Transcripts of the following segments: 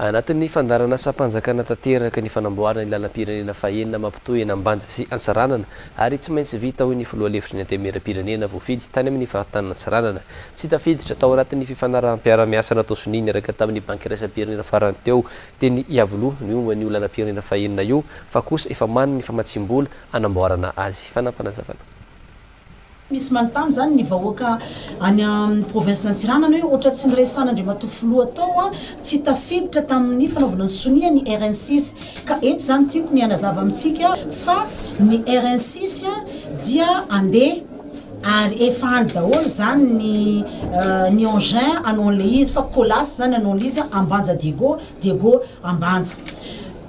Anatin'ny fandaharanasam-panjakana tanteraka ny fanamboarana ny lalam-pirenena fahenina mampitohy an'Ambanja sy Antsiranana ary tsy maintsy vita hoy ny filoha lefitry ny Antenimierampirenena voafidy tany amin'ny faritanin'i Antsiranana tsy tafiditra tao anatin'ny fifanaraham-piarahamiasa natao sonia niaraka tamin'ny Banky iraisam-pirenena farany teo teny Iavoloha ny momba an'io lalam-pirenena fahenina io fa kosa efa manana ny famatsiam-bola anamboarana azy. Fanapanazavana. Misy manontany zany ny vahoaka any amin'ny province Antsiranana hoe ohatra tsy niresana Andriamatoa Filoha tao an, tsy tafiditra tamin'ny fanaovana ny sonia ny rnsis. Ka eto zany tiako ny hanazava amintsika fa ny rnsis dia andeha ary efa any daholo zany ny ny engin anon'le izy fa colas zany anon'le izy an, Ambanja Diego, Diego Ambanja.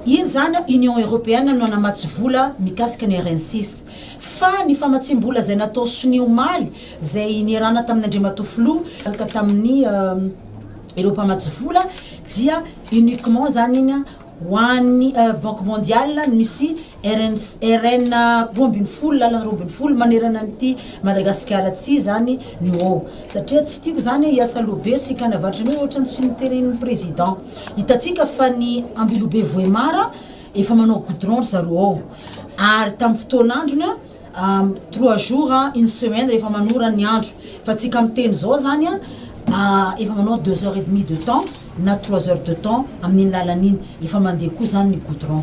Iny zany an Union Europeana no nanamatsy vola mikasika ny rnsis. Fa ny famatsiam-bola izay natao sonia omaly, izay niarahana tamin' Andriamatoa Filoha, ka tamin' ireo mpamatsy vola, dia uniquement izany iny ho an'ny Banque Mondiale no misy RN roa ambin'ny folo, lalana roa ambin'ny folo manerana an'ity Madagasikara ity izany no ao. Satria tsy tiako izany hoe hiasa loha be tsika any avaratra, ny hoe ohatran'ny tsy noteren'ny Président. Hitantsika fa ny Ambilobe Vohemar. Efa manao goudron ry zareo ao. Ary tamin'ny fotoan'androny an, trois jours, une semaine rehefa manora ny andro. Fa tsika miteny izao izany an, efa manao deux heures et demie de temps na trois heures de temps amin'iny lalana iny. Efa mandeha koa izany ny goudron.